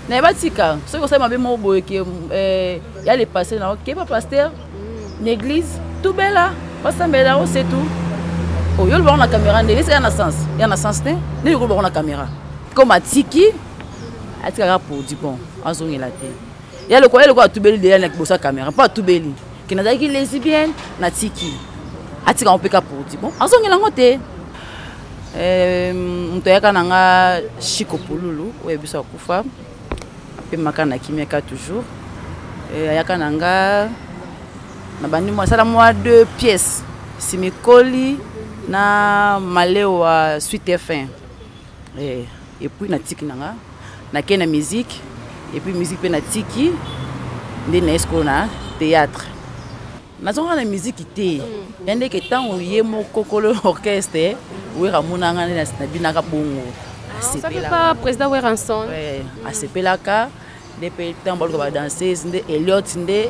naye batika soki osali mabe moko boye ke eh, ya le passé na okeba pasteur mm. na église tubela basambela yango se tout oyo oh, olobaka na caméra nde esa ya na sens ya na sens te nde yoko olobaka na caméra comme atiki atikaka produit bon azongela te ya lokola ya lokola atubeli deya na liboso ya caméra mpo atubeli ke nazalaki lesbienne natiki atika yango mpe ka porti bon azongela yango te eh, moto ayaka na nga chiko pululu oyo biso akufa mpe maka na kimiaka toujours eh, ayaka na nga na bandi asala mwa deux pièces simikoli na malewa suite fin eh, et puis na tiki na nga na ke na musique et puis musique pe na tiki nde na esko na théâtre nazonga na musique te mm. ya ndeke ntango ye moko kolo orchestre wera amona nga nde nabinaka bongo ah, président weranson asepelaka nde mpe ntango baluka badanseuse nde eliot nde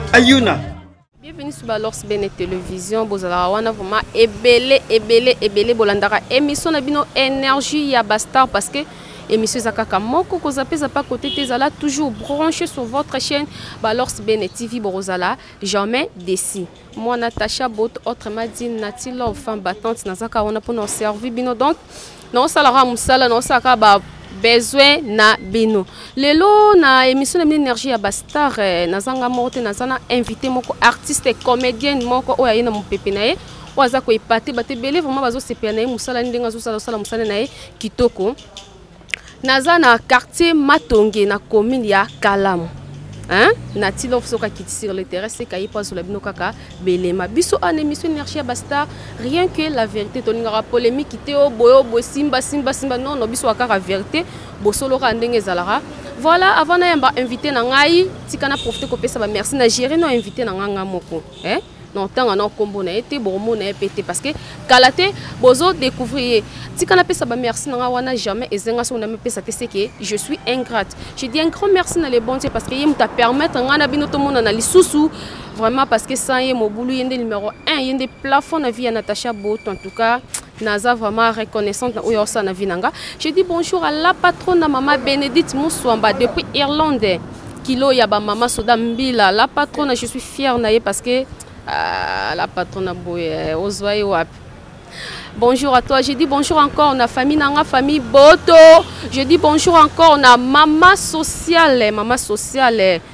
ayuna bienvenue sur balors bene télévision bozalaka wana vraiment ebele ebele ebele bolandaka émission na bino énergie ya bastar parce que émission eza kaka moko kozape eza pa côté te ezala toujours branché sur votre chaîne balors bene tv bokozala jamais déci moi natacha bot autrement dit nati love femme battante nazaka wana mpona oservi bino donc naosala kaka mosala naosala kaka ba besoin na bino lelo na émission na bino énergie ya bastar eh, nazanga moko te naza na invité moko artiste comédienne moko oyo aye na mopepe na ye oyo aza koepate bato ebele vraiment bazosepela na ye mosala ni ndenge azosala osala mosala na ye kitoko naza na quartier matonge na commune ya kalamu hein? na tilo soka kiti sur le terrain seka ye mpo azola bino kaka belema biso en émission énergie ya bastar rien que la vérité tolingaka polémique te o boye o boye simba simba simba non no biso kaka vérité bosolo kaka ndenge ezalaka voilà avant nayamba invité na ngai tika na profite kopesa bamerci na géri no invité na ngai ngai moko eh? non ntango wana nkombo na ye te bokomona ye mpe te parce que kala te bozo découvrir ye tika napesa bamerci na nga wana jamais ezenga soki namipesa te seke je suis ingrate je dis un grand merci na le bon dieu parce que ye moto apermettre ngai na bino tomonana lisusu vraiment parce que sans ye mobulu ye nde numero 1 ye nde plafond na vie ya natacha boto en tout cas naza vraiment reconnaissante na oyo osala na vie na nga je dis bonjour à la patrona mama bénédicte muswamba depuis irlande kilo ya bamama soda mbila la patrona je suis fière na ye parce que ah, la patrona boye eh, ozwa ye wapi Bonjour à toi. Je dis bonjour encore na famille nanga famille Boto. Je dis bonjour encore na maman sociale, maman sociale.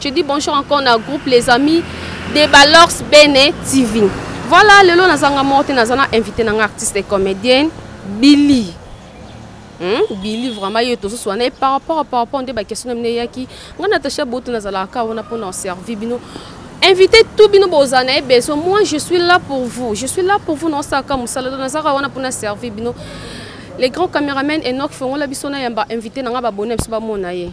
Je dis bonjour encore na groupe les amis de Balors Bene TV. Voilà, lelo nazanga morte nazana invité nanga artiste et comédienne Billy. Hmm? Billy vraiment yo tozo swana et par rapport par rapport nde ba question mne yaki nga Natacha Boto nazala ka wana pona servir bino invité tout bino boza na besoin moi je suis là pour vous je suis là pour vous non ça comme ça nazaka wana pona servir bino les grands caméramans Enoch Fongola biso na yamba invité nanga ba bonne biso ba mona ye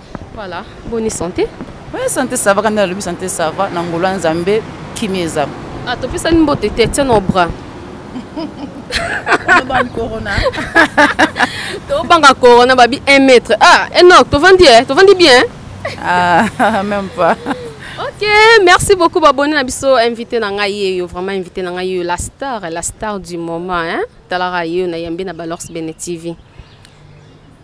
Voilà, bonne santé. Oui, santé ça va, quand on a santé ça va, na ngolo nzambe kimia eza. Ah, to pesa ni mbote te, tiens nos bras. Ban corona. To banga corona babi 1 mètre. Ah, Enoch, to vandi eh, to vandi bien. Ah, même pas. Ok, merci beaucoup babonne na biso invité na ngai yeyo, vraiment invité na ngai yeyo la star, la star du moment hein. Talara yeyo na yambe na Balors Bene TV.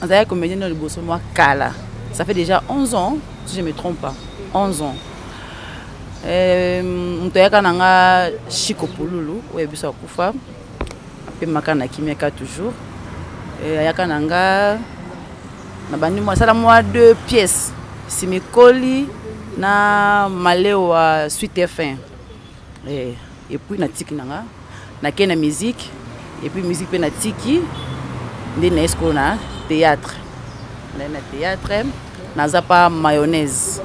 nazalaki comédien no liboso mwa kala ça fait déjà 11 ans si je me trompe pas 11 ans euh, moto ayaka na nga chiko pululu oyo biso akufa apemaka na kimiaka toujours euh, ayaka na nga na bandi mwa asala mwa deux pièces simikoli na malewa suite fin eh, epuis natiki na nga nakei na musique epuis musique mpe natiki nde naye sikoyo na théâtre naye na théâtre naza pa mayonnaise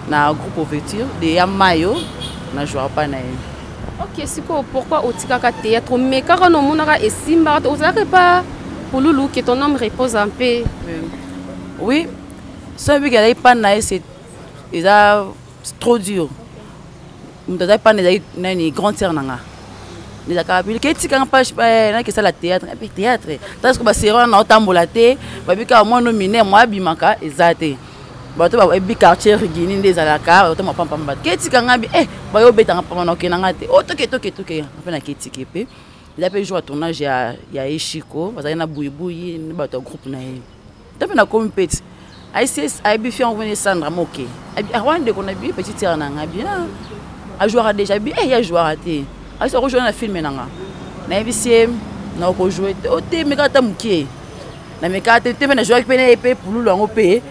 na groupe ouverture de ya mayo na jouaka pa na ye ok sikoyo pourquoi otikaka théâtre omekaka na omonaka esimbaka te ozalaka epa pululu ke ton homme repose un peu oui soki biki azalaki pa na ye eza trop dur moto azali mpana ezali nani grande sœur na nga ezalaka bilika etikanga mpage eh, naki esala théâtre mpe eh, théâtre ta soki baseri wana na otambola te babikaka mwa no mine mwa abimaka eza te bato bayebi eh, quartier rigini nde ezalaka bato mapampamba bato ketika nga bi e bayo obetanga mpamba na okenda nga te otoketoketoke oh, mpe naketike mpe eza mpe jour ya tournage ya eshiko bazali na buibui bato ya groupe na ye Ntope na komi peti. ICS ayebi fi yango vene Sandra moke. Abi ah wana ndeko na bi petit sœur na nga bien. Ah, a jouera déjà bi eh ya jouera te. Aso ko jouer na film na nga. Na yebi sie na ko jouer te. O te meka ta moke. Na meka te te na jouer pe na pe pululu yango pe.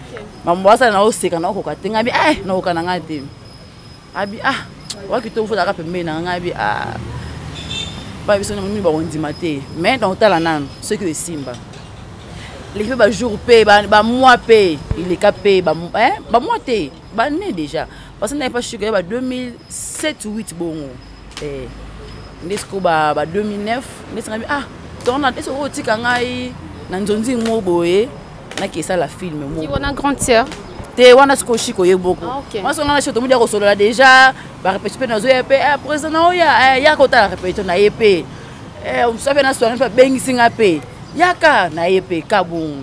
Mambo asala na oseka na okoka te ngabi eh na okana nga te. abi ah waki to fo daka pembe na nga abi ah ba biso ngi ba ondima te mais dans tala nanu ce que simba les pe ba jour pe ba, ba mois pe il est capé ba hein ba mois te ba né déjà parce que n'a pas su que ba 2007 8 bongo eh, nde sikoyo ba 2009 nde esengami ah torna ese oyo otika ngai na nzonzi ngo boye nakesala filme mowana grande sœur te wana sikoyo shiko ye boko ah, mwaso nga na shiko tomodi ya kosolola déjà barepetition mpe nazoya mpe eh, président na oya eh, yaka otala repetition na ye mpe mosusu mpe na soirée mpe abengisi nga mpe yaka na ye mpe kabongo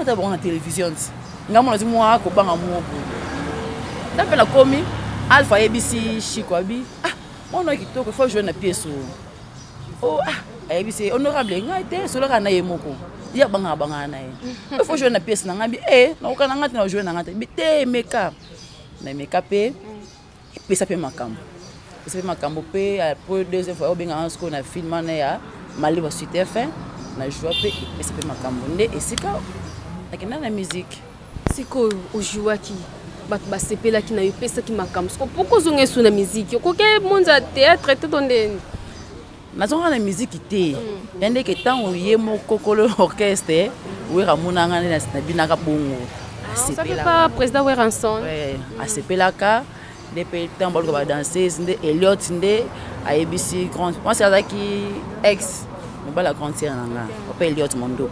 ata bango na television ti nga mona ti mwa kobanga mwa boye ta mpe nakomi alpha ayebisi shiko abi ah mwana oyo kitoko fo joine na piese oyo o oh, ah ayebisi honorable ngai te solaka na ye moko ye abangaka bangaka na ye fo joine na piese na ngai bi e eh, nakokana ngai te na joine na ngai te bi te emeka na emeka mpe epesa mpe makambo epesa mpe makambo mpe po deuxième fois obengaka nga sikoyo na film wana ya maliba suite fin na joua mpe epesa mpe makambo nde esika nakenda na miziki sikoyo ojouaki bato basepelaki na yo epesaki makambo siko mpo kozonga esu na miziki okoki monza théâtre te to ndeni nazongaka na miziki te mm. ya ndeke ntango ye moko kolo orchestre wera amonanga nde nabinaka bongo ah, président weranson asepelaka nde mpe ntango baluka badanseuse nde eliot nde ayebisi grande mwasi azalaki ex mobali ya grande sere na nga ope eliot mondo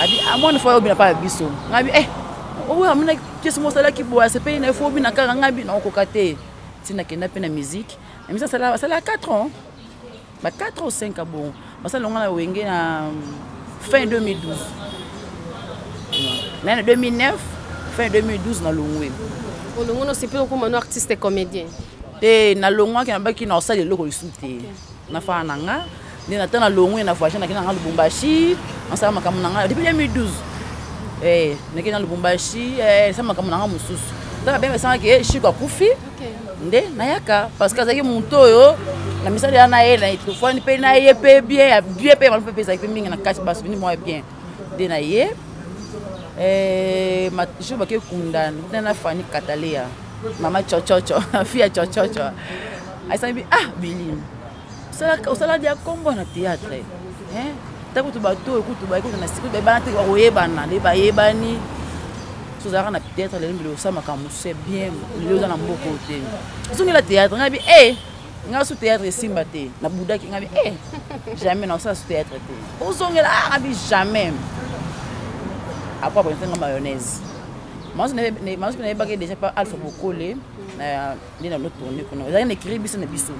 abi amoni ah, fo obina mpa ya biso ngabi e eh, oyo amina kesi mosalaki boye asepeli na ye fo obina kaka ngabi naokoka te ntina kenda mpe na miziki Amisi asala asala 4 ans ba 4 ou 5 abongo basala longa na wenge na fin 2012 na na 2009 fin 2012 na longwe olongo no sipe okoma no artiste comédien te na longwaki na baki na osala eloko lisusu te nafana na nga nde nata na longwe na voyage nakenda nanga lubumbashi nasala makambo na ngai depuis 2012 eh, nakei na lubumbashi eh, esala makambo na ngai mosusu ntaka benge esangaki eh, shiko akufi nde nayaka parce que azalaki moto oyo na misala ya na ye na etofani mpe na ye mpe bien ya bien mpe malupe mpe ezalaki mpe mingi na kati basouvenir moko ya bien nde na ye eh, jour bakei kunda nde na fani kataleya mama cococo fille ya cococo ayesangi bi ah bilini osala dia kombo na théâtre ta kutu bato oyo kutu baye kutu na sika bayebana te bakoyebana nde bayebani so ozalaka na théâtre lelo mbele osala makambo mosusu ya bien lelo oza na mboka oyo te ozongela théâtre ngai bi e eh, ngai su théâtre esimba te na budaki ngai bi e eh, jamais na osala su théâtre te ozongela ah, ngai bi jamais apres akonete ngai mayonnaise masu nayebaki déjà pa alpha bokole na nde na notourne kuna ezalaki na ekiri biso na biso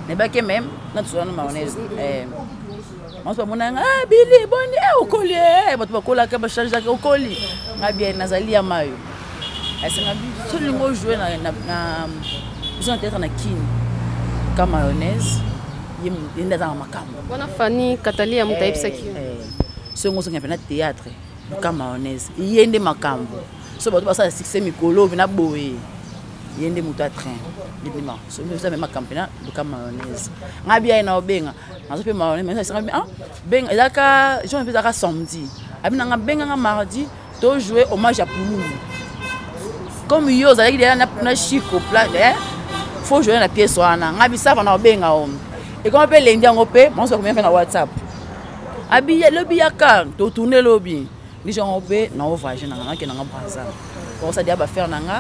nayebaki meme natusana na mayonnaise eh. banso bamona nga ah, bili boni eh, okoli eh, bato bakolaka bachangeaka okoli nga bia nazali ya mayo asenga biso lingo ojoue biso na teatre na kini ka mayonnaise ye nde aza na makambo wana fani katali ya moto ayebisaki songo osonga mpe na teatre ka mayonnaise ye nde makambo so bato basala succès mikolo na boye ye nde moto ya train libima soki oza mema campena luka mayonnaise ngai biyaye na obenga nazo mpe mayonnaise ah, benga ezalaka jean mpe ezalaka samedi abi nanga benganga mardi tojoue hommage ya pululu comme yo ozalaki deya na chico plat eh, fo joue na pièce wana ngai bisava na obenga o ekoma mpe lendi yango mpe maoso akomia mpe na whatsapp abi lobi yaka totourne lobi biso yango mpe nao voyage nanga nakenda nga braza okosadi ya bafere na nga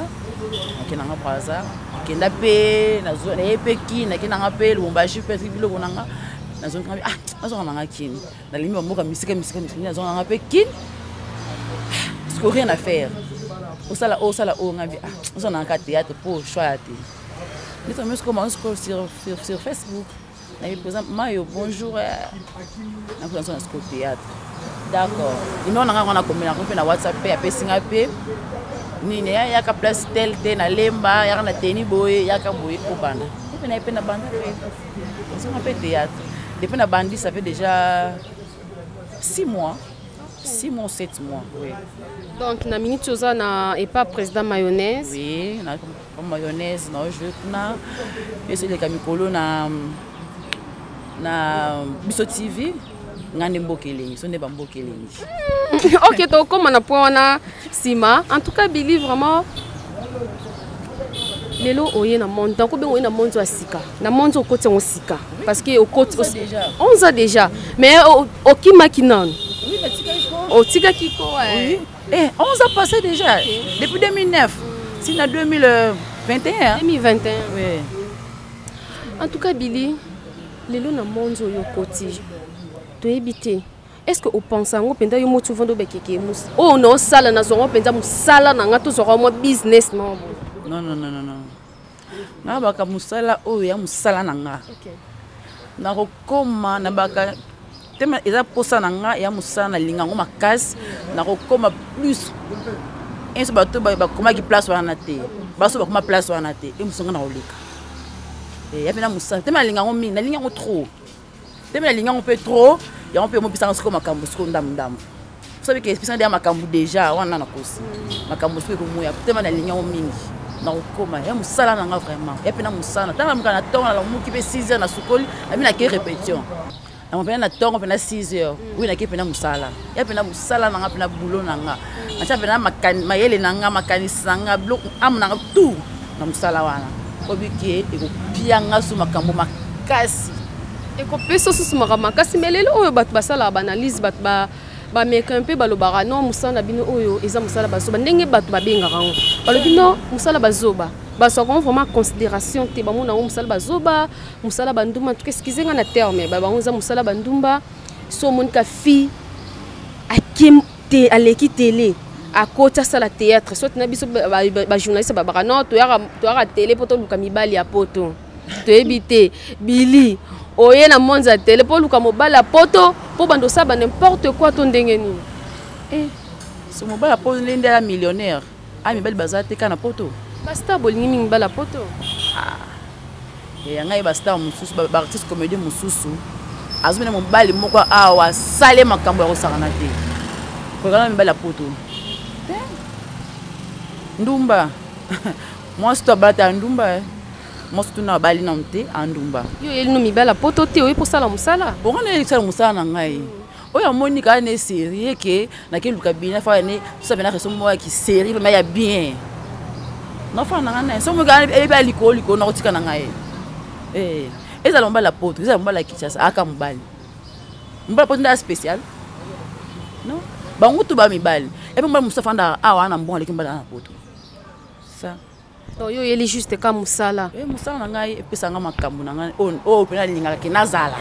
nakenda nga braza nakenda mpe naye mpe kini nakenda nga mpe lubumbashi mpe soki biloko na nga nazongi nga ah nazonga na nga kini nalimi bamboka misika misika misika nazonga na nga mpe kini siko rien à faire osala oyo osala oyo ngai ah ozala na ka théâtre mpo choix ya te ndetomesikomaosiko sur facebook nayebi koza mayo bonjour nakozanso na siko théâtre d'accord numero na ngai yango nakomela yango mpe na whatsapp mpe apesi ngai mpe nini yaka place tel te na lemba yaka na teni boye yaka boye obanda mpe naye mpe na banda mpe nazonga mpe théâtre depuis na bandi ça fait déjà six mois six mois sept mois oui. donc na minute oza na epa président mayonnaise oui, mayonnaise na ojoue kuna biso eleka mikolo na na biso tv ngai nde mboka elengi so nde bamboka elengi ok tokoma na point wana nsima en tout cas bili vraiment lelo oye na monde donc obenga oye na monde ya sika na monde okoti yango sika parce que okoti 11 ans déjà mais okimaki nanu otikaki ko Eh, 11 ans passé déjà. Depuis 2009. Si na 2021. 2021. Oui. En tout cas, Billy, lelo na monzo yo koti. Tu es bité. Est-ce que au pense en penda yo motu vondo bekeke mus. Oh non, sala na zongo penda musala na nga to zoro mo business non. Non non non non non. na baka mosala oyo ya mosala na nga okay. nakokoma na baka tema eza mposa na nga ya mosala nalinga yango makasi nakokoma plus inso bato bakomaki place wana te baso bakoma place wana te e mosonga nakoleka eh, ya mpe na mosala te nalinga yango mingi nalingi yango trop te mpe nalingi yango mpe trop yango mpe omopesanga sikoyo makambo sikoyo ndambo ndambo soki ke espesa ndeya makambo deja wana nakosi makambo soki ekomoya tema nalingi yango mingi nakokoma ya mosala na nga vraiment ya mpe na mosala ntango namuka na ntongo nalamuki mpe 6 heures nasukoli nabi nakei répétition yango mpena na ntongo mpena 6 heures oyo nakei mpena mosala ya mpena mosala na nga mpena boulot na nga atia mpena mayele na nga makanisi na nga biloko ame na nga tout na mosala wana oyebi ke ekopia nga so makambo makasi ekopesa susu makambo makasi me lelo oyo bato basalaka baanalyse bato ba bameka mpe balobaka non mosala na bino oyo eza mosala bazoba ndenge bato babengaka yango balobi non mosala bazoba bazwaka yango vraiment considération te bamona yango mosala bazoba mosala bandumba ntuka eskize nga na terme bango eza mosala bandumba so omonika fille ake te aleki tele akoti asala théâtre soki na biso bajournaliste ba, ba, babaka non toyaka tele mpo toluka mibali ya poto toyebi te bili oye na monde ya tele mpo oluka mobali ya poto mpo bando osala ba n'importe quoi to ndenge nini eh. so mobali ya poto nde nde ya millionnaire Ah, mibali baza te kaka na poto bastar bolingi mingi bala poto ah. ya ngai bastar mosusu baartiste comédie mosusu azomina mobali moko awa asale makambo ya kosakana te kokana mibali ya poto te ndumba mwasi to abala te ya ndumba eh. mwasi tuna abali nano te andumba yo oyeli no mibali ya poto te oyebi kosala mosala bongo nayeli kosala mosala na ngai mm. oyo amoni kaka ne serie ke nakeluka bina faa ne tosala bena reso moko ya kiserie vraimen ya bien nafana na ngai naye soki moki eyebi ya likolo likolo nakotika na ngai eh, ezala mobali ya poto ezala mobali ya kinshasa aka mobali mobali ya poto nde ya spécial non bango tu ba mibali epe mobali mosusu afandaka awa na mbongo aleki mobali ana poto sa donc yo oyeli juste ka mosala e, mosala na ngai epesa ngai makambo na ngai oyo oh, oh, mpena nalingaka ke nazala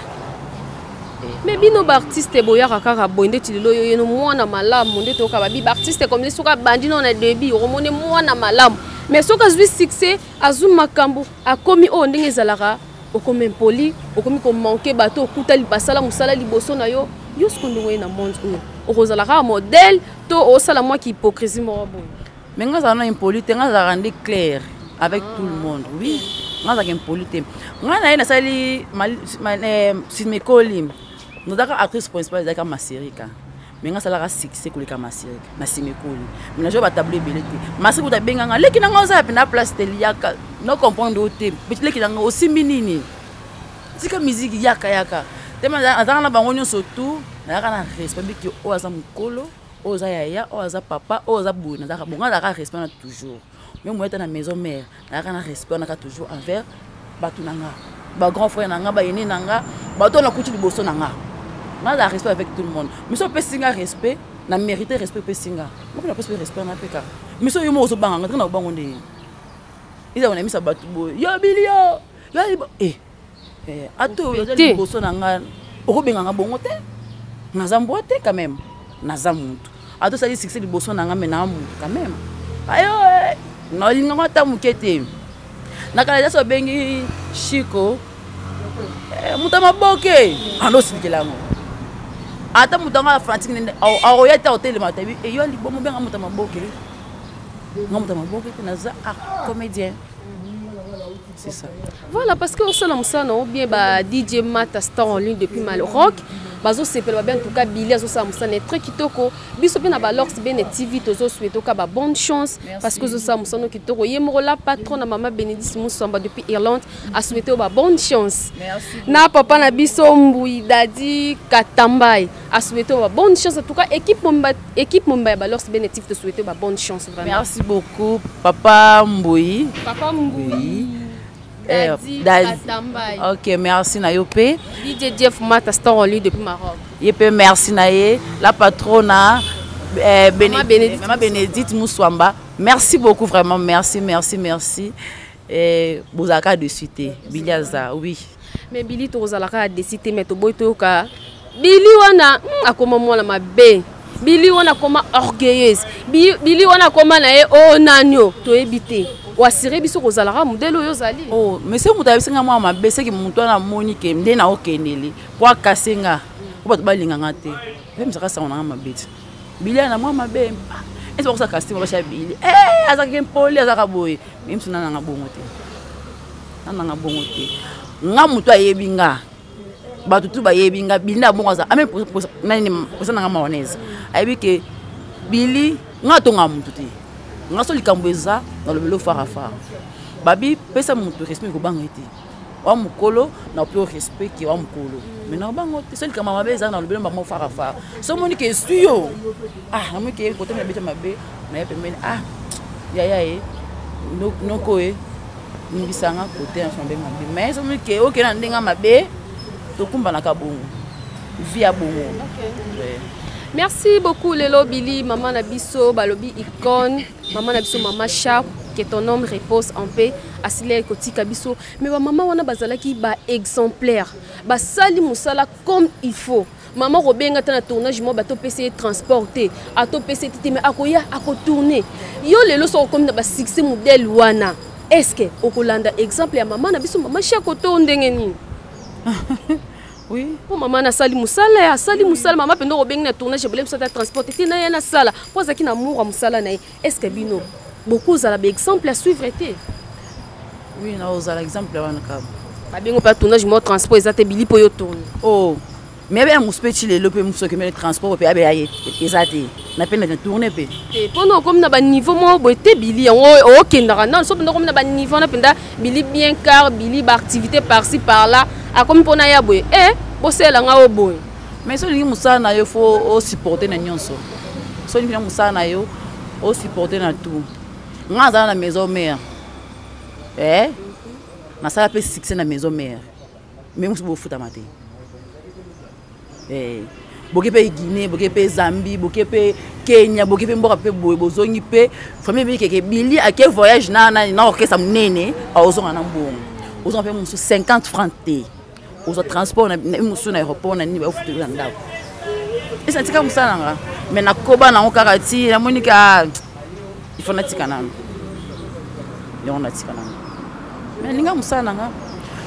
eh. me bino baartiste boyaka kaka boye ndeti lelo yo yeno mwana malamu nde toyoka babi baartiste komini soki abandi nao na debut okomoni mwana malamu mais soki azwi succès azwi makambo akomi oyo oh, ndenge ezalaka okomi impoli okomi komanke bato okuta basala mosala liboso na yo yo sikoyo ndenge oye na monde oyo okozala kaka modèle to osala mwa kihypocrisie moko boye mais nga azala na impoli te nga azalaka nde claire avec ah. tout le monde oui nga azalaka impoli te nga na ye nasali simekoli eh, nozalaka actrice principale ezalaka maserika mais nga asalaka succès koleka masirika na simekoli mais najo batable ebele te masirika kuta abenga nga leki nanga oza yape na place te liyaka no comprendre o te leki nanga osimbi nini tika miziki yaka yaka te azalaka na bango nyonso tout nayaka na respect biki oyo aza mokolo oyo oza yaya oyo aza papa oyo aza boye nazalaka bongo azalaka respect na toujours meme oyata na maison mare nazalaka na respect naka toujours envers bato na nga bagrand frère na nga bayene na nga bato oyo nakuti liboso na nga nazala respect avec tout le monde miso opesi nga respect na mérité respect opesi nga moko napesi mpe respect na mpe kaka miso yo moko ozobanga nga ndenge na kobango ndenge ezala na misa bato boye yo bilio yo eh eh, atolo te liboso na nga okobenga nga bongo te naza mbwa te quand même naza mutu ata osali succès liboso na nga me naa mutu quand même ayo eh, nalingako ata moke te na kala jasi obengi shiko eh, moto ya maboke anosilikela yango ata moto yango afanatique nende akoya te akotelema tabi eyo eh, alibomo benga moto ya maboke nga moto ya maboke te naza ah, comédien C'est ça. Voilà, parce que au salon, on bien bah, DJ Mata Star en ligne depuis Mal Rock. bazosepela babe en tout cas bili azosala mosala na très kitoko biso mpe na balox bene tv tozosue toka ba bonne chance parce que ozosala mosala no kitoko ye moko la patron na mama bénédice musamba depuis irlande asouete yo ba bonne chance na papa na biso mbui dadi katambai asouete yo ba bonne chance en tout cas équipe mobimba Équipe Momba ya Balors Benetif, te souhaite ba bonne chance vraiment. Merci beaucoup, Papa Mboyi. Papa Mboyi. Eh, Dadi, Dadi. Katambaye. Ok, merci na yo pe. DJ Jeff Mata, star en ligne depuis Maroc. Ye pe merci na ye, la patrona. Eh, Bene- Maman Bénédicte Maman Bénédicte Mouswamba. Merci beaucoup, vraiment, merci, merci, merci. Eh, bozalaka dessus te bili aza oui mais bili tokozalaka dessus te mais toboyi toyoka bili wana hmm, akoma mwana mabe bili wana akoma orgueilleuse bili wana akoma na ye o oh, nanio toyebi te oasire biso kozalaka modele oyo ozali o oh, mais soki moto ayebisi ngai mwana mabe soki moto wana amoni ke nde na okendeli po akase nga po bato balinganga te pe mizaka sango na ngai mabe te bilia na mwa mabe ah, esi bakosa kastima basha bili eh, azalaki mpoli azalaka boye mimsu nananga bongo te nananga bongo te nga moto ayebi nga bato tu bayebi nga bili na bongo aza ame nani posa nanga maonese ayebi ke bili nga atonga moto te nga so likambo eza nalobeli ofarafara babi pesa moto respect ekobanga ete wa mokolo na ope o respect ke wa mokolo mai na bango te so likama mabe ezala na lobelo bango farafara so omoni ke esui yo ah namoni ke kote mabete mabe naye pembeni ah yaya ye noko ye nibisanga kote na mabe mabe mai so omoni ke okenda na ndenge mabe tokumbanaka bongo vi ya bongo okay. yeah. merci beaucoup lelo bili mama na biso balobi icone mama na biso mama sharp que ton nom repose en paix asila ekotika biso mais bamama wana bazalaki baexemplaire basali mosala comme il faut mama kobenga ata na tournage mwa bato opesa ye transport te ata opesa ye te te mai akoya akotourne yo lelo soki okomi na basuccès modele wana estce que okolanda exemple ya mama na biso mama shako to ndenge nini Oui. Mpo mama nasali mosala ya asali mosala mama mpenza okobengi na tournage ebele mosala ya transport ete na ye nasala mpo azalaki na amour ya mosala na ye est ce que bino bokozala baexemple ya suivre te oui nakozala exemple wana kaba babengo mpe tournage moko transport eza te bili mpo yo tourne o oh. mais abeya mosu mpe ti lelo mpe mosu okemele transport mpe abeya ye eza te na mpe na tourne mpe mpona okomi na baniveau moko boye te bili yango okendaka nano so mpenza okomi na baniveau wana mpenza Billy bien car Billy ba activité par ci par là akomi mpo na ya boye eh bosalela nga o boye mais soki olingi mosala na yo fo osupporte na nyonso soki olingi na mosala na yo osupporte na tout nga azala na maison mare eh nasala mpe succès na maison mare mais mosusu bofutama te eh, boke mpe guinée boke mpe zambie boke mpe kenya boke mpe mboka mpe boye bozongi mpe famille ebebi keke bili ake voyage na, na, na orchestre monene aozonga na mbongo ozonga mpe mosusu 50 franc te ozwa transport mosusu na aéroport na nini baofuteli na ndako esa tika mosala nanga mai nakoba nango kaka ti namoni ka il faut natika nanu yango natika nanu mais linga mosala na nga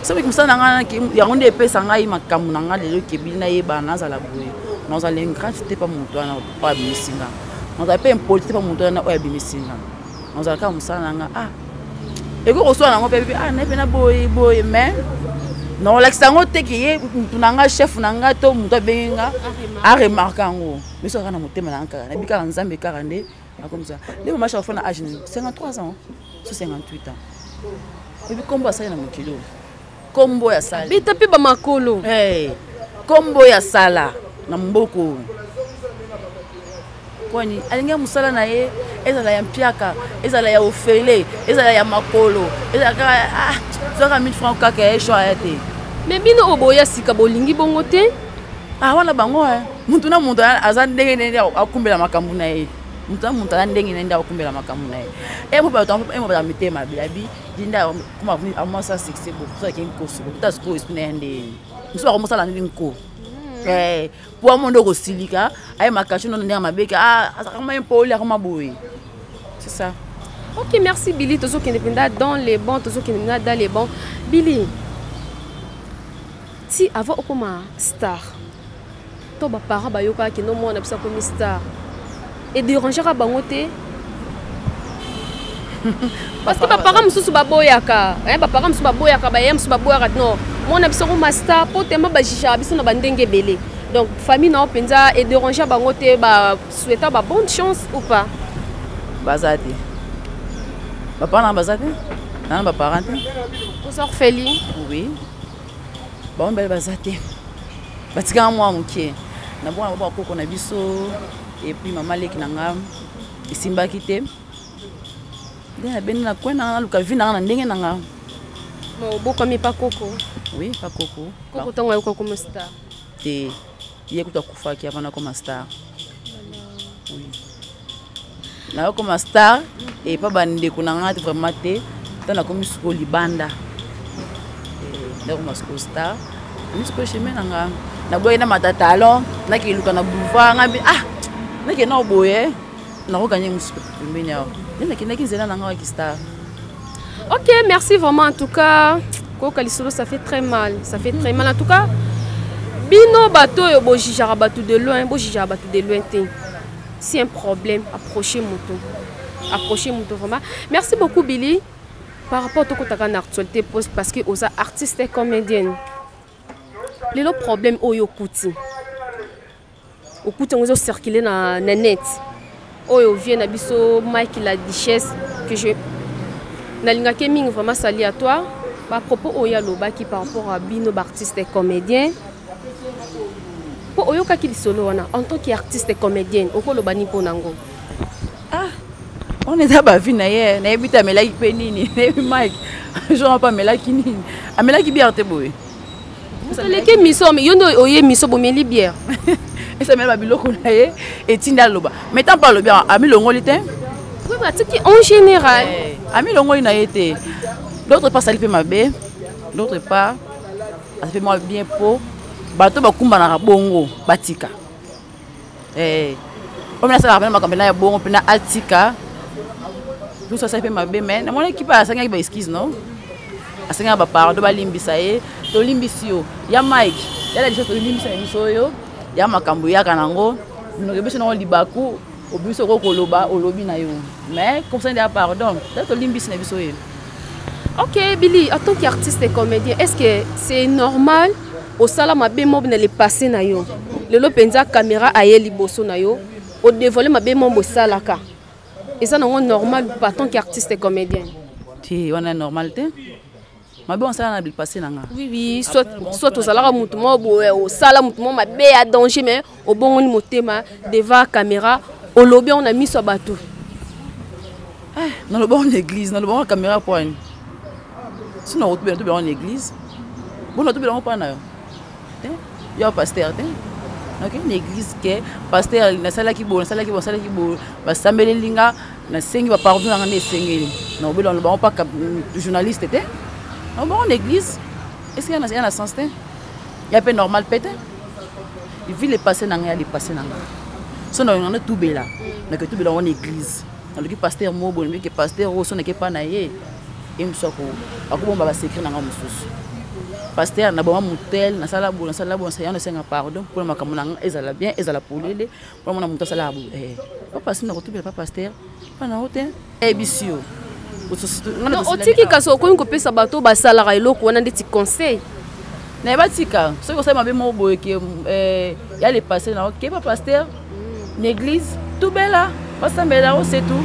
soki mosala na nga yango nde epesa ngai makambo na nga lelo ekebi nayeba nazala boye nazala ingrate te pa moto wana oyo abimisi nga nazala mpe impoli te pa moto wana oyo abimisi nga nazala kaka mosala na nga ah ekoki kosala nango mpe ah naye mpe na boye boye mais nakolakisa yango te ke ye motu na nga chef na nga to motu abengi nga aremarke yango biso kaka na motema na nga kaka nayebi kaka nzambe kaka nde akomisa nde mama shafa na age 53 ans so 58 ans oyebi nkombo asali na mokili oyo nkombo oyo asali beta mpe bamakolo nkombo oyo asala na mboka oyo kwani alingi mosala na ye ezala ya mpiaka ezala ya ofele ezala ya makolo ezala kaka ah, zwaka 1000 franc kaka ya echon aya te me bino oyo boya sika bolingi bongo te ah wana bango eh. moto na moto aza ndenge na ndenge akumbela makambo na ye moto na moto aza ndenge na ndenge akumbela makambo na ye emobata mitema mabe abi linda koma amwasa succès bokuta ake nkosi bokuta sikoyo esprit na ye ndeyeni mosusu akomosala ndenge nko hmm. eh, po amo nde okosilika aye makashi nono ndenge mabeke ah, azakama ye mpoli akoma boye c'est ça ok merci billy tozokende mpenza dans les bon tozokende mpenza dans les bon billy ti avant okoma star to baparent bayokaka kino mwana biso akomi star ederangaka bango te parce que baparent mosusu baboyaka eh, baparent mosusu baboyaka baye mosusu baboyaka no mwana biso akoma star mpo tema bajijaka biso na bandenge ebele donc famille nao mpenza ederangea bango te basueta babonne chance ou pas baza te baparent baza te nana baparent te oza orpheline oui bango mibale baza te batikaka mwa moke na bongo na bakoko na biso epuis mama leki na nga esimbaki te nde nabeni na kwe na nga naluka vi na nga na ndenge na nga obokomi pakoko oui pakoko koko ntango ayoka komosita te ye kutu akufaki avant nakoma star nakoma star epa bandeko na ngai vraiment te ntango nakomi sikoyo libanda eh, nakoma sikoyo star ami sikoyo chemin na nga naboyaki na mata talon nakeluka na boulevard ngai mpe ah nakenda oboye nakokanye mosusu pembeni awa nde nakendaki nzela na ngai ya kistar Ok, merci vraiment en tout cas. Koka lisolo ça fait très mal, ça fait très mal en tout cas. Bino bato oyo bo jijaka bato de loin, bo jijaka bato de loin te. C'est un problème, approchez moto. Approchez moto vraiment. Merci beaucoup Billy par rapport au kotaka na actualité poste parce que oza artiste et comédienne. Lelo problème oyo kuti. okuti yango ezo circuler na, na net oyo vie na biso mike la duchesse que je nalingaki mingi vraiment sali à toi bapropos oyo alobaki par rapport à bino baartiste comédien mpo oyokaki lisolo wana en tant que artiste comédienne okoloba ni mpo nango ah wana eza bavi na ye nayebi te amelaki mpe nini nayebi mike jour mpe amelaki nini amelaki biarte boye oleki miso yo nde oye miso bomeli bière esamela babiloko na ye etindi aloba mais ntango mpe alobi amilongoli te atiki en général eh, amilongoli na ye te d'autre part asali mpe mabe d'autre part asali mpe mwa bien mpo bato bakumbanaka bongo batika eh, oyo nasalaka mpena makambo ena ya bongo mpena atika lusu asali mpe mabe me namona ekipa asengaki ba eskise no asengaka bapardo balimbisa ye tolimbisi yo ya mike yala biso tolimbisa na biso oyo ya makambo yaka nango binoke biso nango libaku obimisi okoki koloba olobi na yo mais kosende ya pardon peut-être olimbisi na biso ye ok billy en tant qu'artiste et comédien est ce que c'est normal osala mabe mob na le passé na yo lelo mpenza caméra aye liboso na yo odevoile mabe mob osalaka eza nango normal pas tant qu'artiste et comédien te wana normal te mabe osala na bipasse na nga oui soit soit ozalaka motu moko boye osala motu moko mabe ya danger mais obongoli motema devant caméra olobi yango na miso ya bato eh, naloba yango na église naloba yango na caméra mpo ani sino nakotubela tobela yango na église bona tobela yango mpo na yo te yo pasteur te nakei na église ke pasteur nasalaki boye nasalaki boye nasalaki boye basambeleli nga nasengi bapardon nanga nde esengeli naobela na bango mpaka journaliste te na bango na église eske ya na sens te ya mpe normal mpe te vi lepasse na ngai ya lepasse na ngai so na yonga natubela naketubela yango na église naloki pasteur mobo nabiki pasteur oyo so nake epa na ye ye mosusu ako akobomba basecret na ngai mosusu paster naboma motel nasala bo nasala bo nasala nasenga pardon mpona makambo na ngai ezala bien ezala polele mpona mona moto asalaka bo eh, papa sina kotubela pa paster mpa na yo te ayebisi yo otiki kasi okomi kopesa bato basalaka eloko wana ndeti conseil naye batika soki osali mabe moko boyeke eh, ya le passe na yo keba paster na église tubela basambela yango c'est tout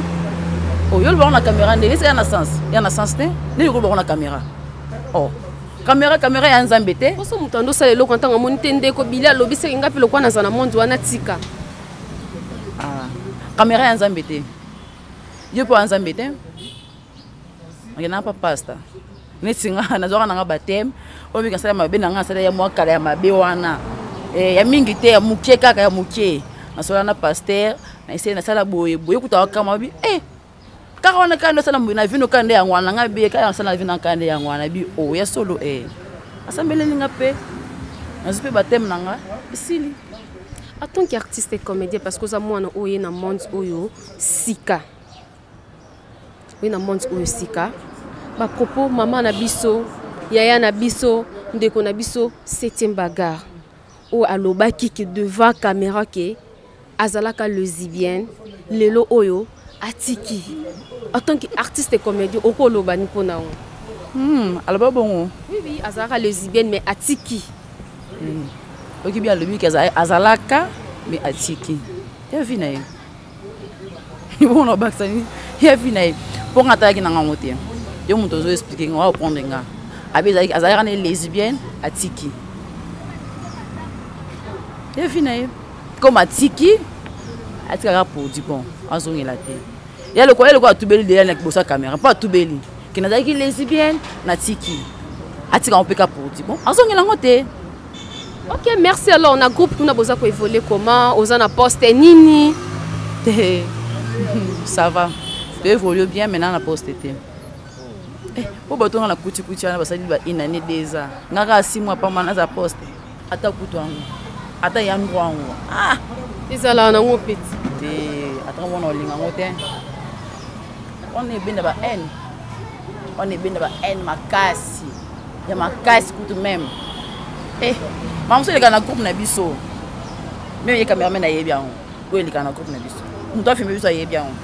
oyo oh, olobaka na caméra ndenge eza ya na sens ya na sens te ndenge olobaka na caméra o oh, caméra caméra ya nzambe te poso moto ando osala eloko ntango amoni te ndeko bili alobi seke ngai mpe lokola naza na monde wana tika ah, caméra ya nzambe te yo mpo ya nzambe te nakendaka mpa pasta neti nga nazwaka na nga bateme oyo mingi asala mabe na nga asala ya mwa kala ya mabe wana eh, ya mingi te ya moke kaka ya moke nasola na paster na esei nasala boye boye kuta wakama bi e eh, kaka wana kaka nde osala moye na vino kaka nde yango wana ngai biye kaka nasala na vino kaka nde yango wana bi o oh, ya solo e asambeleli nga mpe nazwi mpe bateme na nga esili en tant qu'artiste et comédien parce que oza mwana oye na monde oyo sika Oui, na monde oyo sika ba propos maman na biso yaya na biso ndeko na biso septième bagarre oyo oh, alobaki ke devant caméra ke azalaka lesibienne lelo oyo atiki en tant que artiste et comédien okoloba ni mpo na yango hmm, aloba bongo oui, oui, azalaka lesibienne mais atiki hmm. okibi alobi ke azalaka mais atiki ya vi na ye bona obakisa nini ya vi na ye mpo nga atalaki na ngango te yo moto ozo explike nga oa oprendre nga abi azalaka na ye lesbienne atiki ya vi na ye comme atiki atikaka produit bon azongela te ya lokola ye lokola atubeli deya na liboso ya camera mpo atubeli ke nazalaki lesbienne natiki atika yango mpe ka produit bon azongela yango te ok merci alors na groupe kuna boza koévolue comment oza na poste nini ça va toévolue bien maintenant na poste te eh, mpo bato nga na kutikuti wana basali ba une année deux ans nga kaka si mois pamba naza poste ata kutu yango ata yango yango ah! ezalaka nango peti te ata wana olinga yango te wana ebenda ba haine wana ebenda ba haine makasi ya makasi kutu meme eh, mamoso eleka na groupe na biso meme ye cameraman ayebi yango oyo eleka na groupe na biso moto afilme biso ayebi yango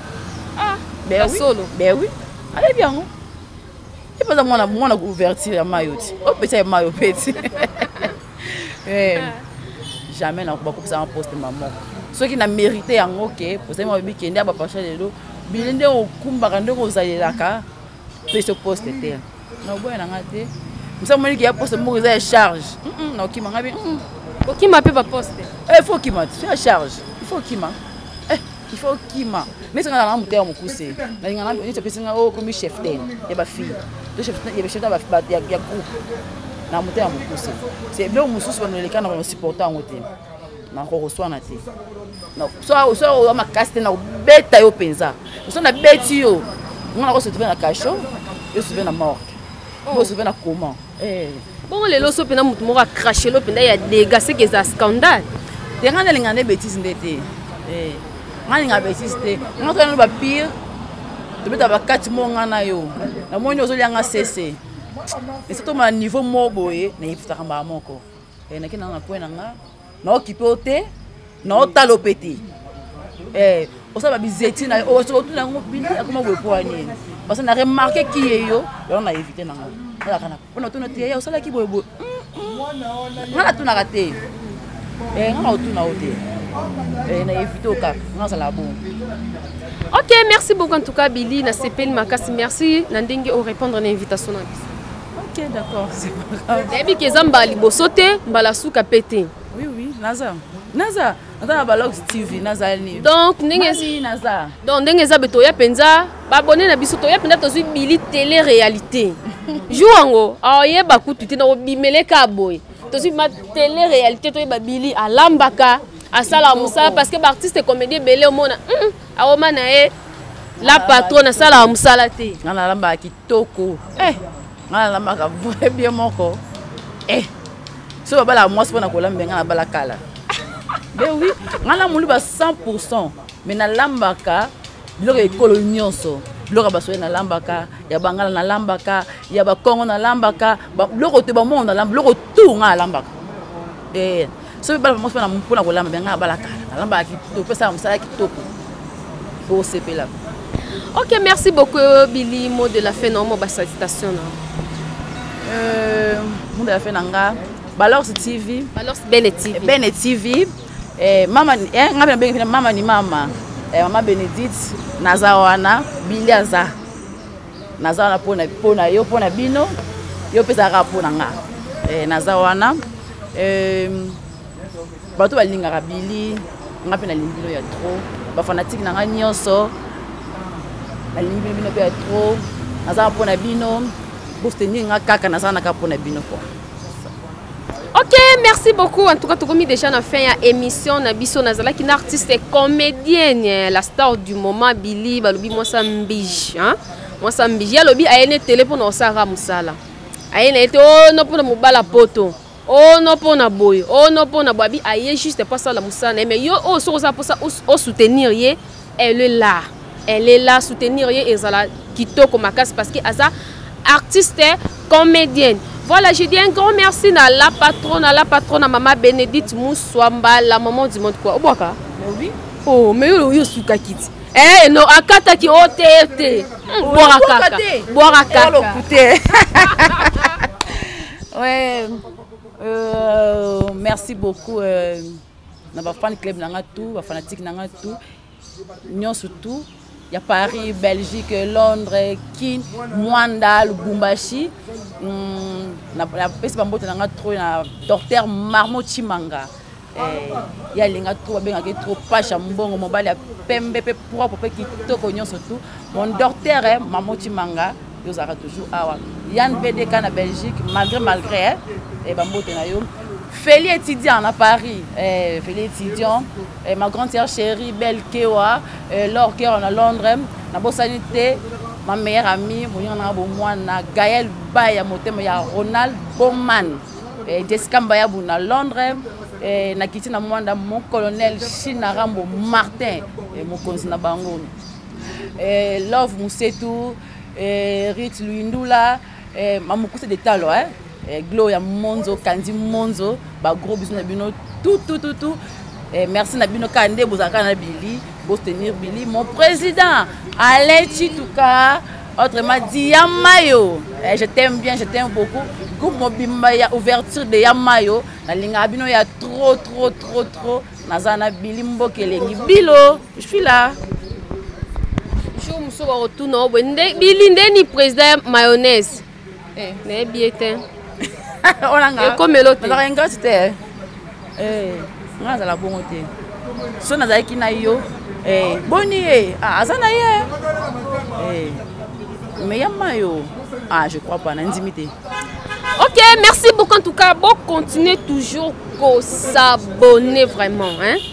ah, solo bewi ayebi yango epaza mwana mwana couverture ya mayo ti opesa ye mayo mpe ti eh, jamais na bakopesa nga poste ma moko soki na mérite yango ke ozali mabe bikende ya bapacha lelo bino nde okumbaka nde kozalelaka peso poste te naoboya na nga te misa moniki ya poste moko eza ya charge naokima nga bi okima mpe baposte eh, il faut okima te ya charge il faut okima il faut kima mais nga na mutema mukuse na nga na nito pesi nga o oh, komi chef ten ya ba fille to chef ya chef ba ya ya groupe na mutema mukuse c'est bien mususu ba noleka na ba supporter ngo te na ko koswana te na so so o makasi te na beta yo penza so na beti yo nga na ko se trouver na cachot yo se trouver na morgue yo se trouver na comment eh. bongo lelo so mpena motu moko acrache lo mpenda ya dega seke eza scandale te ngai nalinga nde bétise nde te eh. ngai nalinga bétise te ngai toyana ba pire tobeta bakati mo ngai na yo namoni ozolia ngai sese esi toma na niveau mo boye nayebisaka mbaa moko eh, nakenda na poi na ngai na okipe yo te na otala ope te eh, osala babizeti na yo soki otuna yango bini akoma boye mpo ani parce na remarke ki ye yo yango na evite nango alaka na mpo na tuna te ye osalaki boye boye nga natunaka te eh, nga na otuna yo te eh, na evite okaka nga azala bongo ok merci beaucoup en tout cas billy nasepeli makasi merci na ndenge orépondre na invitation na biso Ok, d'accord, c'est pas grave. Nayebi que eza mbala liboso te, mbala suka pe te. Oui, oui, naza. Naza. Naza na Balox TV, naza ni. Donc ndenge si naza. Donc ndenge eza beto ya penza, ba abonné na biso to ya penza tozui bili télé réalité. Jour yango, aye ba kutu te na obimele ka boy. Tozui ma télé réalité to ba bili alambaka, asala musala parce que ba artiste comédien belé omona. Hum, aoma na ye la patronne asala musala te. Na lamba ki toko eh nga nalambaka vrai bien moko eh so babalaka mwasi mpo na kolamba nga nabala kala be oui nga na moluba 100 pourcent mais nalambaka biloko ya ekolo nyonso biloko ya basoye nalambaka ya bangala nalambaka ya bakongo nalambaka biloko te bamongo nalamba biloko tu nga nalambaka ee eh. soki bala moko na mpona kolamba bia ngai abalaka nalambaka kitoko pesaka mosala kitoko okosepela ok merci beaucoup euh, bili mot de la fin na omo basacitation na euh, mot de la fin na nga balors tv balors bene tv eh, bene tv eh, mama eh, nga benabenge mpena mama ni mama eh, mama benedite naza wana bili aza naza wana mpo na mpo na yo mpo na bino yo mpe ezalaka mpo na nga eh, naza wana eh, bato balingaka bili nga mpe nalingi bino ya trop bafanatike na nga nyonso nalingi bino bino mpe ya trop naza mpo na bino bostenir nga kaka naza naka mpo na bino kua Ok, merci beaucoup. En tout cas, tokomi déjà na fin ya émission na biso nazalaki na artiste comédienne la star du moment Billy balobi mwasa mbiji hein? mwasa mbiji alobi aye ne tele mpo na osalaka mosala aye na ye te o no mpo na mobala poto o no mpo na boye o no mpo na boye abi aye juste mpo asala mosala na ye mais yo oyo soki osala mposa osoutenir ye elle est là elle est là soutenir ye ezala kitoko makasi parce que aza artiste comédienne voilà je dis un grand merci na la patronne na la patronne na mama bénédicte muswamba la maman du monde quoi obwaka oui oh mais yo yo suka kiti eh no akataki o te te bwaka kaka bwaka kaka ouais euh, merci beaucoup euh... na ba fan club na nga tout ba fanatique na nga tout nyonso tout ya paris belgique londres kin mwanda lubumbashi mm, napesi bambote na nga tro na docteur marmo chimanga eh, ye alinga tro babengaki tro pashe ya mbongo mobali ya pembe mpe propre mpe kitoko nyonso tu mon docteur eh, marmo chimanga yo ozalaka toujours awa yann pdk na belgique malgré malgré eh, eh, bambote na yo feli étudiant na paris eh, feli étudiant eh, ma grande sœur chérie belle kewa eh, lor kewa na londres nabosani te ma meilleure amie moninga nanga bomwana gaël baya motema ya ronald boman eh, jessica mbayabu na londres eh, nakiti na mwanda mon colonel china rambo martin eh, mokonzi na bango eh, love musetu eh, rit luindula eh, mamukuse de talo eh? eh, gloria monzo kandi monzo bagros biso na bino tutututu eh, merci na bino kaka nde bozalaka na bili bostenir bili mon président alain chituka autrement dit ya mayo eh, je t'aime bien je t'aime beaucoup groupe mobimba ya ouverture de ya mayo nalingaka bino ya trop trop trop trop naza na bili mboka elengi bilo Je suis là. Jour mosusu bakotuna yo boye nde bili nde ni président mayonnaise eh. nayebi ye te ekomelo tezalaka ingrate te eh. eh, nga nazala bongo te so nazalaki na yo boni ye ah, aza na ye me ya mayo ah je crois pas nandimi te ok merci beaucoup en tout cas bo continuer toujours ko s'abonner vraiment hein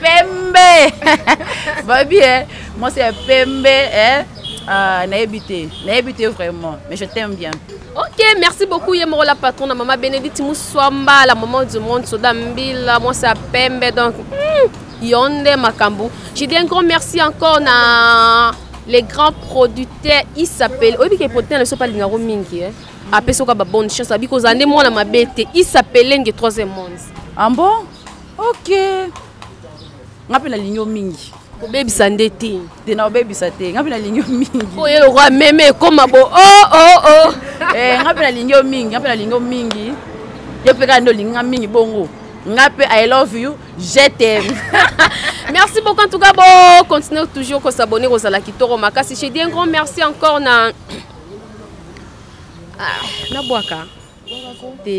pembe babi eh, mwasi ya pembe eh, ah, nayebi te nayebi te vraiment mais je t'aime bien ok merci beaucoup ye moko la patron na mama bénédicte muswamba la maman du monde soda mbila mwasi ya pembe donc hmm, yo nde makambo je dis un grand merci encore na les grands producteurs il s'appelle oyebi ke producteur na biso mpe alingako mingi eh? apesi oka babonne chance abi kozala nde mwana mabe te il s'appelle nge troisième monde ah bon ok nga mpe nalingi yo mingi kobebisa nde te te na obebisa te nga mpe nalingi yo mingi po ye lokola meme ekoma bo o oh, o oh, o oh. eh, nga mpe nalingi yo mingi nga mpe nalingi yo mingi ye mpe kaka nde olingi nga mingi bongo nga mpe i love you je t'aime merci beaucoup en tout cas bon continuer toujours ko s'abonner aux ala kitoko makasi j'ai dit un grand merci encore na ah, na bwaka te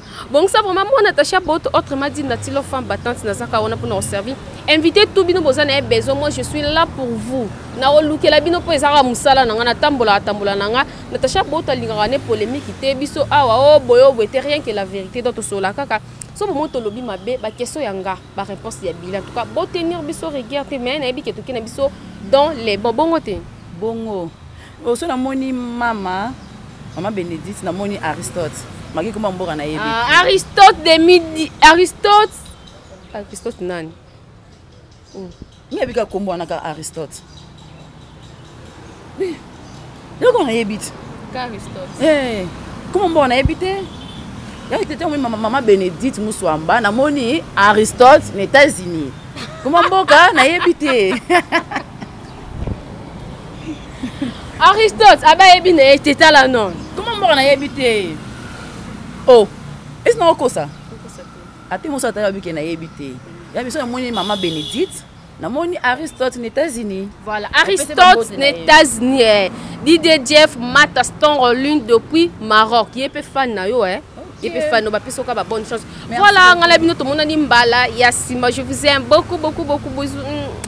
bongisa vraiment mwana attaché ya boto autrement dit natilo femme battante nazaka wana mpona koservi invité tout bino boza na ye besoin moi je suis là pour vous nakolukela bino mpo ezalaka mosala na ngai natambola atambola na ngai natacha boto alingaka ne polémique te biso awa o oh, boye o boye te rien que la vérité donc tosolola kaka so bomoi tolobi mabe bakestion ya nga baréponse ya bila en tout cas botenir biso rigueur te mais nayebi ke toke na biso dans les bon bongo te bongo Oh, so namoni mama mama benedite namoni aristote maki koma mboka na yebi ah, aristote de midi aristote aristote nani oh. nayebi kaka kombo wana kaka aristote eloko nayebi te eh, koma mboka nayebi te yaki tete omoni mama benedite muswamba namoni aristote na états-unis koma mboka nayebi te aristote abe ayebi na ye te tala non koma mboka nayebi te o oh, esi na okosa ate moso atali babike nayebi te ya biso namoni mama bénédicte namoni aristote na états-unis voilà aristote na états-unis eh. didie jeff mata stongo lune depuis maroc ye mpe fan na yo eh. et puis fano bapesi oka ba bonne chance voilà ngai na bino tomonani mbala ya nsima je vous aime beaucoup beaucoup beaucoup bozu mm.